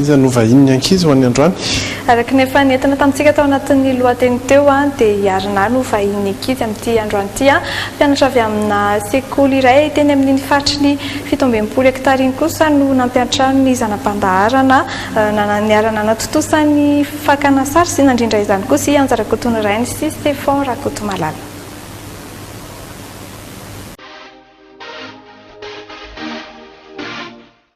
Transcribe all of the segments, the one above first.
Iza no vahinin'ny ankizy ho an'ny androany? Araka ny efa nentina tamintsika tao anatin'ny lohateny teo dia i Arnaud no vahinin'ny ankizy amin'ity androany ity. Mpianatra avy amina sekoly iray teny amin'iny faritry ny fito amby enimpolo hektara iny kosa no nampiantrano ny zana-pandaharana niara-nanatontosa ny fakana sary sy nandrindra izany kosa i Anja Rakotonirainy sy Stephon Rakotomalala.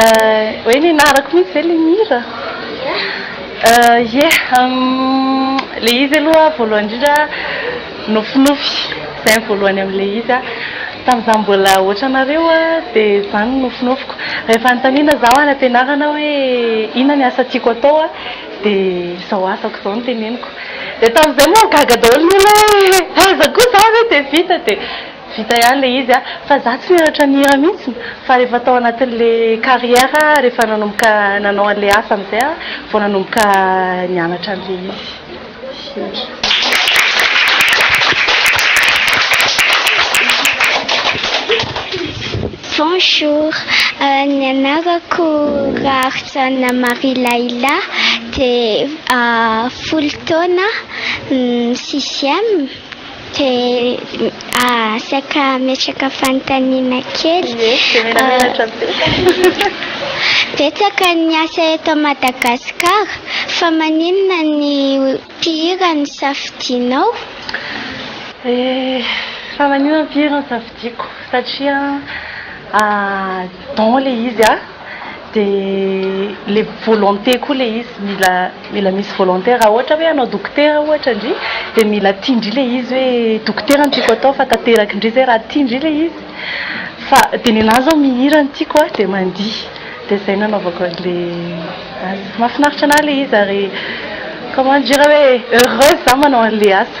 Eh, hoe nenarako mihitsy ve ilay mihira? Eh, yeah, ilay izy aloha voalohany indrindra nofinofy, izay ny voalohany amin'ilay izy an, tamin'izaho mbola ohatranareo an, dia izany no nofinofiko, rehefa anontaniana izaho any am-pianarana hoe inona ny asa tiako atao an, dia izao asako izao no teneniko, dia tamin'izay moa gaga daholo ny olona hoe aiza koa izaho ve dia vita dia. Vita ihany le izy a! Fa za tsy nianatra nihira mihitsy fa rehefa tao anatin'le carrière rehefa nanomboka nanao an'le asa amizay aho vao nanomboka nianatra an'le izy hira. Bonjour, ny anarako Raharijaona Marie Laila dia folo taona sixième. Dia saika hametraka fanontaniana kely. Ie, dia mila menatra be. Betsaka ny asa eto Madagasikara fa maninona ny mpihira no safidianao? Eh, fa maninona ny mpihira no safidiako? Satria don ilay izy a! Dia le volonté koa le izy mila mila misy volonté raha ohatra hoe hanao dokotera ohatra ndry dia mila tia ndry le izy hoe dokotera no tiako atao fa tanteraka ndry zay raha tia ndry le izy fa dia ny anah zao mihira no tiako a dia mandihy dia zay nanaovako anle asa mahafinaritra anah le izy ary comment dire hoe heureuse zah manao anle asa.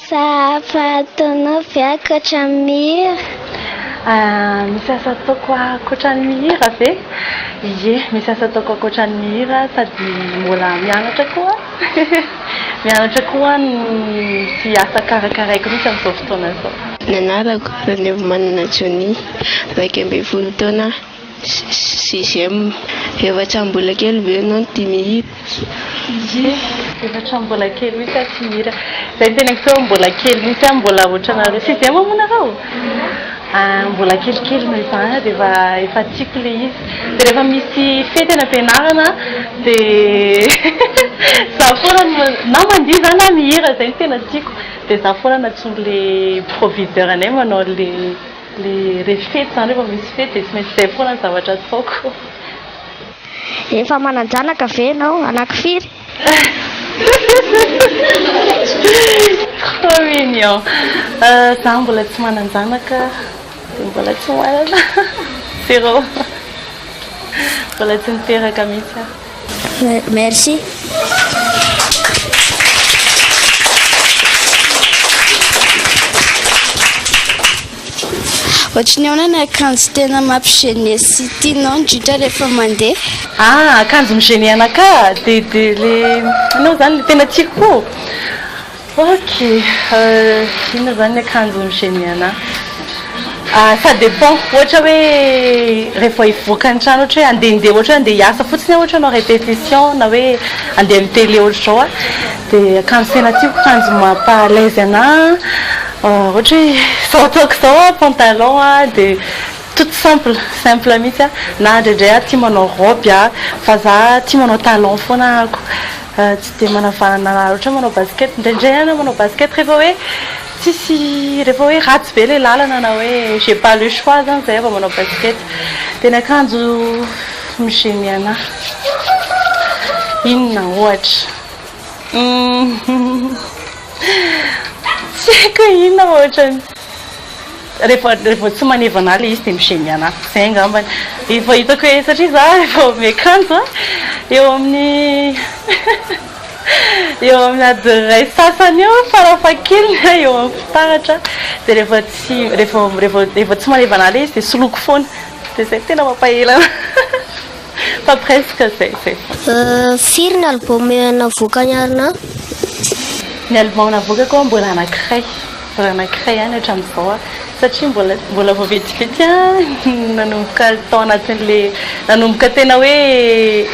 Sahafa-taonao ve ankoatra ny mihira? Misy asa ataoko ankoatra ny mihira ve? Ie, misy asa ataoko ankoatra ny mihira sady mbola mianatra koa aho. Mianatra koa aho ny asa karakaraiko mihitsy amin'izao fotoana izao. Ny anarako, Ranevimanana Johnny, iraika ambin'ny folo taona aho. Sixième, efatra amby mbola kely ve ianao no tia mihira? Sixième, efatra amby mbola kely mihitsy aho tia mihira. Izay no tena hita hoe mbola kely mihitsy aho, mbola ohatranareo. Sixième moa nareo? Mbola kelikely noho izany dia efa efa tiako ilay izy. Dia rehefa misy fety any am-pianarana dia izaho foana no na mandihy izaho na mihira, izay no tena tiako. Dia izaho foana no antsoin'ilay proviseur anay manao an'ilay. Le revy fety zany rehefa misy fety dia tsy maintsy izay foana ny zavatra ataoko. Efa manan-janaka ve ianao? Anaky firy? Trop mignon. Za mbola tsy manan-janaka dia mbola tsy manana. Zéro. Mbola tsy niteraka mihitsy aho. Merci. Ohatry ny ahoana ny akanjo tena mampigene sy tianao indrindra rehefa mandeha? Ah, akanjo mi-gêner anakahy ah, dia dia ilay ianao izany ilay tena tiako koa. Ok, inona zany ny akanjo mi gene anah? ah ça dépend ohatra hoe rehefa vao hivoaka ny trano ohatra hoe handehandeha ohatra hoe handeha hiasa fotsiny aho ohatra hanao répétition na hoe handeha mi télé ohatr'izao ah de akanjo tena tiako akanjo mampa à l'aise anah ohatra hoe izao ataoko izao ah pantalon ah de toute simple simple mihitsy ah na indraindray aho tia manao robe ah fa zah tia manao talon foana ah ako. Tsy dia manavahana loatra manao basket, indraindray aho manao basket rehefa hoe tsisy rehefa hoe ratsy be ilay lalana na hoe j'ai pas le choix zany zay aho vao manao basket dia ny akanjo mi-gêner anahy inona ohatra tsy haiko hoe inona ohatra ny rehefa rehefa tsy maneva anah le izy de mi-gêne anah zay angambany efa hitako hoe satria za efa ome kanjo a eo amin'ny eo amin'ny adiny iray sy sasany eo farafahakeliny a eo amin'ny fitaratra de rehefa tsy rehefa rehefa rehefa tsy maneva anah le izy de soloiko foana de zay tena mampaela anah Fa presque zay zay. Firy ny album navoakan'i Arnaud? Ny album navoakako mbola anankiray, mbola anankiray ihany hatramin'izao an, satria mbola mbola vao vetivety ihany no nanomboka tao anatin'le nanomboka tena hoe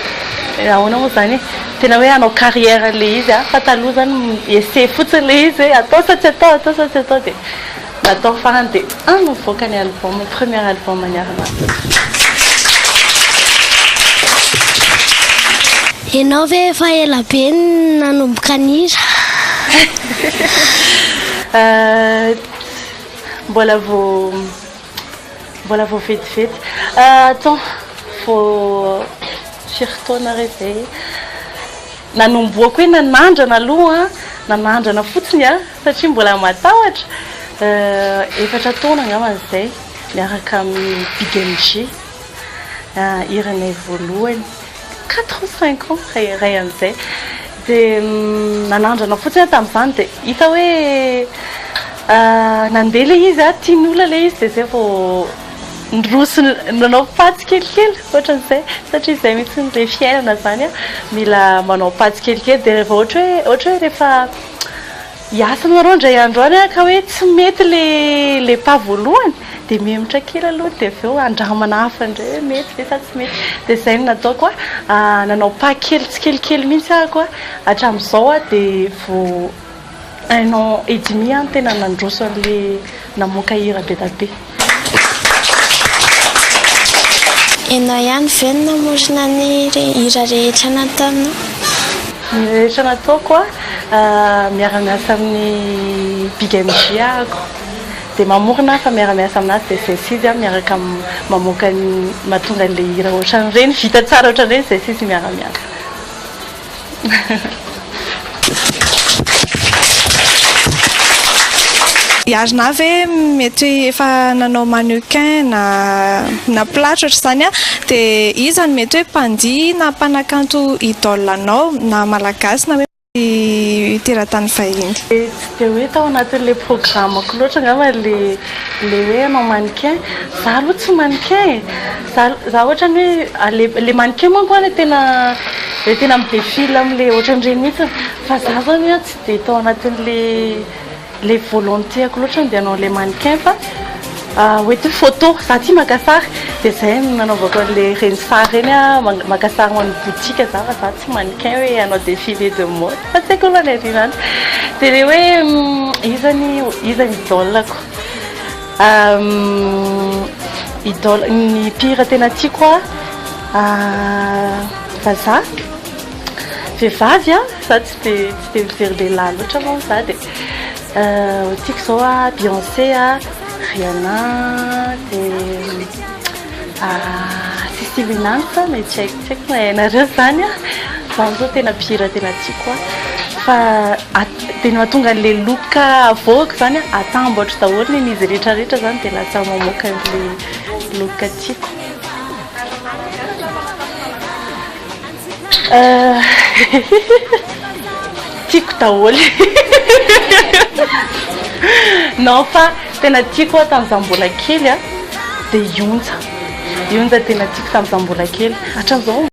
ahoana moa izany e, tena hoe hanao carrière an'le izy an, fa taloha izany essai fotsiny le izy hoe atao sa tsy atao, atao sa tsy atao dia. natao farany dia any no mivoaka ny album, ny premier album an'i Arnaud. Ianao ve efa ela be no nanomboka nihira? Mbola vao mbola vao vetivety. Attends, vao firy taona re izay? Nanomboako hoe nanandrana aloha, nanandrana fotsiny aho satria mbola matahotra, efatra taona angambany izay miaraka amin'ny Big MJ, hiranay voalohany, quatre ou cinq ans ray ray amin'izay, dia nanandrana fotsiny aho tamin'izany dia hita hoe nandeha ilay izy, tian'ny olona ilay izy dia izay vao. Niroso nanao patso kelikely ohatran'izay satria izay mihitsy ilay fiainana izany an, mila manao patso kelikely dia rehefa ohatra hoe ohatra hoe rehefa hiasa ianareo indray andro any ka hoe tsy mety ilay pas voalohany dia mihemotra kely aloha dia avy eo andramana hafa indray hoe mety ve sa tsy mety dia izay no nataoko an, nanao pas kely tsikelikely mihitsy aho koa hatramin'izao dia vao Un an et demi an tena nandroso anle namoaka hira be da be. Enao ihany ve no namorona ny hira rehetra nataonao? Ny rehetra nataoko a, miara-miasa amin'ny Big MJ ahako dia mamorona aho fa miara-miasa aminazy dia Zesy izy a, miaraka mamoaka ny mahatonga an'ilay hira ohatran'ireny, vita tsara ohatran'ireny Zesy izy miara-miasa. Iarina ve mety efa nanao mannequin na na platre ohatr'izany a dia iza no mety hoe mpandihy na mpanakanto idole anao na malagasy na hoe teratany vahiny? Tsy dia hoe tao anatin'ilay programme-ko loatra angamba ilay ilay hoe hanao mannequin, izaho aloha tsy mannequin e! Za za ohatrany hoe a le le mannequin manko a le tena le tena mi defile amle ohatran'ireny mihitsy fa za zany a tsy de tao anatin'le le volonté-ko loatra ny de hanao an'le mannequin fa hoe ty photo za tia maka sary de zay no nanaovako an'le reny sary reny a man- maka sary ho an'ny boutique za fa za tsy mannequin hoe hanao défilé de mode fa tsy haiko aloha ny an'le zany de le hoe iza ny iza ny idole-ko. Idole, ny mpihira tena tiako a, vazaha, vehivavy a, za tsy de tsy de mijery lehilahy loatra moa za de tiako zao a Beyonce a, Rihanna de. Artiste Winanta no tsy haiko tsy haiko na hainareo izany an! Izaho izao tena mpihira tena tiako an! Fa dia ny mahatonga an'ilay look avoako izany an, atambatro daholo ny an'izy rehetra rehetra izany dia lasa mamoaka an'ilay look tiako. Tiako daholo Non fa tena tiako aho tamin'izaho mbola kely dia i Onja. I Onja tena tiako tamin'izaho mbola kely. Hatramin'izao.